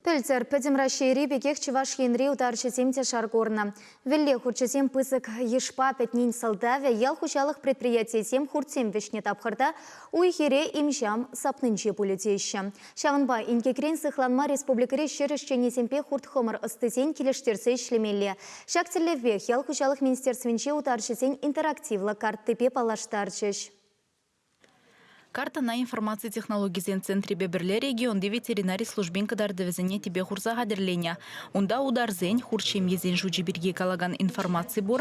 Пӗлтӗр Пӗтӗм Раҫҫейри пекех Чӑваш Енри утарҫӑсем те шар курнӑ. Вӗлле хурчӗсем пысӑк йышпа пӗтнин сӑлтавӗ ял хуҫалӑх предприятийӗсем хуртсем вӗҫнӗ тапхӑрта уй-хире им-ҫам сапнинче пулӗ теҫҫӗ. Ҫавӑнпа инкекрен сыхланма республикӑри ҫӗр ӗҫченӗсемпе хурт-хӑмӑр ӑстисен килӗштерсе ӗҫлемелле. Ҫак тӗллевпех ял хуҫалӑх министерствинче утарҫӑсен интерактивлӑ карттипе паллаштарчӗҫ. Картӑна информаци технологисен центрӗпе пӗрле регионти ветеринари службин кӑтартӑвӗсене тӗпе хурса хатӗрленӗ. Унта утарсен, хурт ҫемьесен шучӗ пирки калакан информаци пур,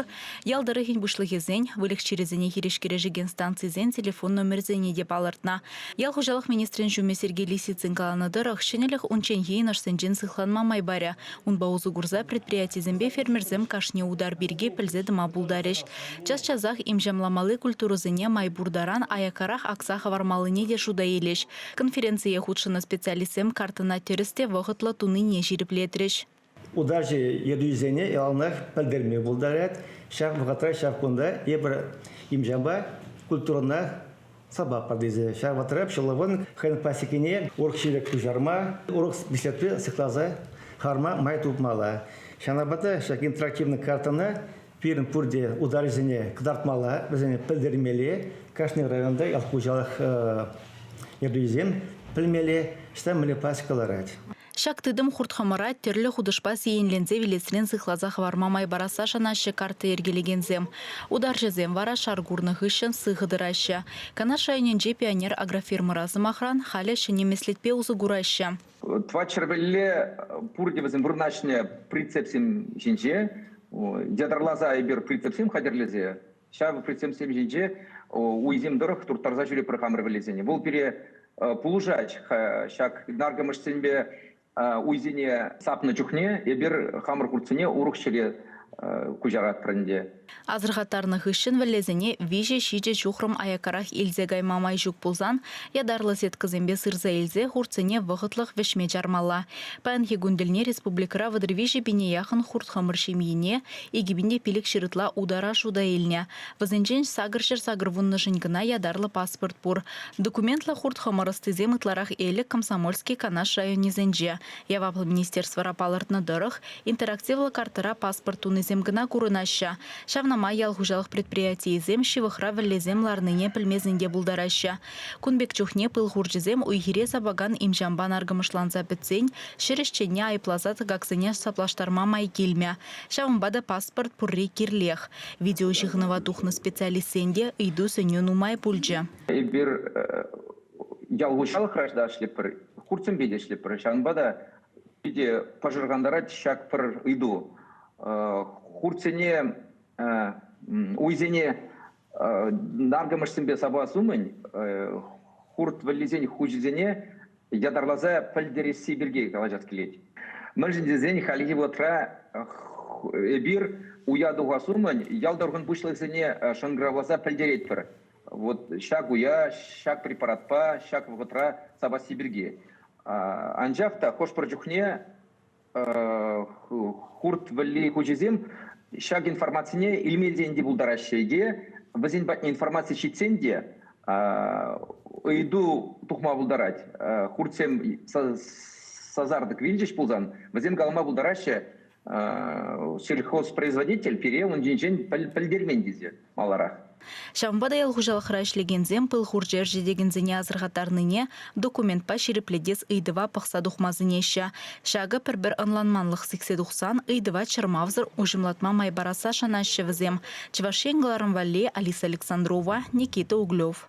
ял тӑрӑхӗн пуҫлӑхӗсен, выльӑх чирӗсене хирӗҫ кӗрешекен станцисен телефон номерсене те палӑртнӑ. Ял хуҫалӑх министрӗн ҫумӗ Сергей Лисицын каланӑ тӑрӑх, ҫӗнӗлӗх унчченхи йӑнӑшсенчен сыхланма май парӗ. Унпа усӑ курса предприятисемпе фермерсем кашни утар пирки пӗлсе тӑма пултарӗҫ. Час-часах имҫамламалли культурӑсене май пур таран аяккарах акса хӑвармаллине те шута илӗҫ. Конференцие хутшӑннӑ специалистсем картӑна тӗрӗс те вӑхӑтлӑ тунине ҫирӗплетрӗҫ. Удачи йӗркисене яланах пӗлтерме пултарать. Ҫак вӑхӑтра ҫав кунта эпир имҫампа культурӑна сӑваппа тесе. Ҫак вӑхӑтра ҫӑлӑвӑн хӑйӗн классикине урӑх ҫирӗк куҫарма, урӑх впечатле сыхласа хӑварма май тупмалла. Ҫавӑнпа та ҫак интерактивный картӑна пирӗн пурте ударҫӑсене кӑтартмалла, вӗсене пӗлтермелле, кашни районта ял хуҫалӑх ертӳҫисем пӗлмелле, ҫытан мӗнле классика ларать. Ҫак тытӑм хурт-хӑмӑра тӗрлӗ хутӑшпа сиенленсе вилесрен сыхласа хӑварма май парасса шанаҫҫӗ картта йӗркелекенсем. Утарҫӑсем вара шар курнӑ хыҫҫӑн сыхӑ тӑраҫҫӗ. Канаш районӗнчи Пионер агрофирмӑра, сӑмахран, халӗ ҫӗнӗ меслетпе усӑ кураҫҫӗ. Тӑватҫӗр пӗлле пурте вӗсем вырнаҫнӑ прицепсем ҫинче. Ятарласа эпир прицепсем хатӗрлесе ҫав председательсем ҫинче уйсем тӑрӑх турттарса ҫӳрепӗр хамӑр вӗллесене. Вӑл пире пулӑшать ҫак наркӑмӑшсемпе уйсене сапнӑ чухне эпир хамӑр хуртсене урӑх ҫӗре куҫаратпӑр ӗнтӗ. Асӑрхаттарнӑ хыҫҫӑн вӗллесене виҫӗ-ҫичӗ ҫухрӑм аяккарах илсе кайма май ҫук пулсан ятарлӑ сеткӑсемпе сырса илсе хуртсене вӑхӑтлӑх вӗҫме чармалла. Паянхи кун тӗлне республикӑра вӑтӑр виҫӗ пине яхӑн хурт-хӑмӑр ҫемйине Икӗпинте пилӗк ҫырытла утара шута илнӗ. Вӗсенчен сакӑр ҫӗр сакӑр вуннӑшӗн кӑна ятарлӑ паспорт пур. Документлӑ хурт-хӑмӑр ӑстисем ытларах Элӗк, Комсомольски, Канаш районӗсенче. Яваплӑ министерствӑра палӑртнӑ тӑрӑх, интерактивлӑ картӑра паспорт тунисем кӑна курӑнаҫҫӗ. Ҫавна май ял хуҫалӑх предприятийӗсем ҫывӑхра вӗллесем ларнине пӗлмесен те пултараҫҫӗ. Кун пек чухне пыл хурчӗсем уй-хире сапакан им-ҫампа наркӑмӑшланса пӗтсен ҫӗр ӗҫченне айӑпласа тӑкаксене саплаштарма май килмӗ. Ҫавӑнпа та паспорт пурри кирлех. Видеоҫыхӑнӑва тухнӑ специалистсен те ыйту-сӗнӳ нумай пулчӗ. Эпир ял хуҫалӑх граждан ӗҫлетпӗр, хуртсемпе те ӗҫлетпӗр. Ҫавӑнпа та питӗ пӑшӑрхантарать ҫак пӗр ыйту. Хуртсене, уйсене наркӑмӑшсемпе сапас умӗн хурт вӗллисен хуҫисене ятарласа пӗлтересси пирки калаҫас килет. Мӗншӗн тесен хальхи вӑхӑтра эпир уя тухас умӗн ял тӑрӑхӑн пуҫлӑхӗсене шӑнкӑравласа пӗлтеретпӗр. Вот ҫак уя, ҫак препаратпа, ҫак вӑхӑтра сапасси пирки. Анчах та хӑш-пӗр чухне хурт вӗлли хучӗсем ҫак информацине илмесен те пултараҫҫӗ е вӗсен патне информаци ҫитсен те ыйту тухма пултарать. Хуртсем сасартӑк вилчӗҫ пулсан, вӗсем калама пултараҫҫӗ, сельхозпроизводитель пире ун ҫинчен пӗлтермен тесе. маларах. Ҫавӑнпа та ял хуҫалӑхра ӗҫлекенсем пыл хурчӗ ӗрчетекенсене асӑрхаттарнине, документпа ҫирӗплетес ыйтӑва пӑхса тухма сӗнеҫҫӗ. Ҫакӑ пӗр-пӗр ӑнланманлӑх сиксе тухсан ыйтӑва чӑрмавсӑр уҫӑмлатма май парасса шанаҫҫӗ вӗсем. Чӑваш Ен кӑларӑм валли Алиса Александрова, Никита Углев.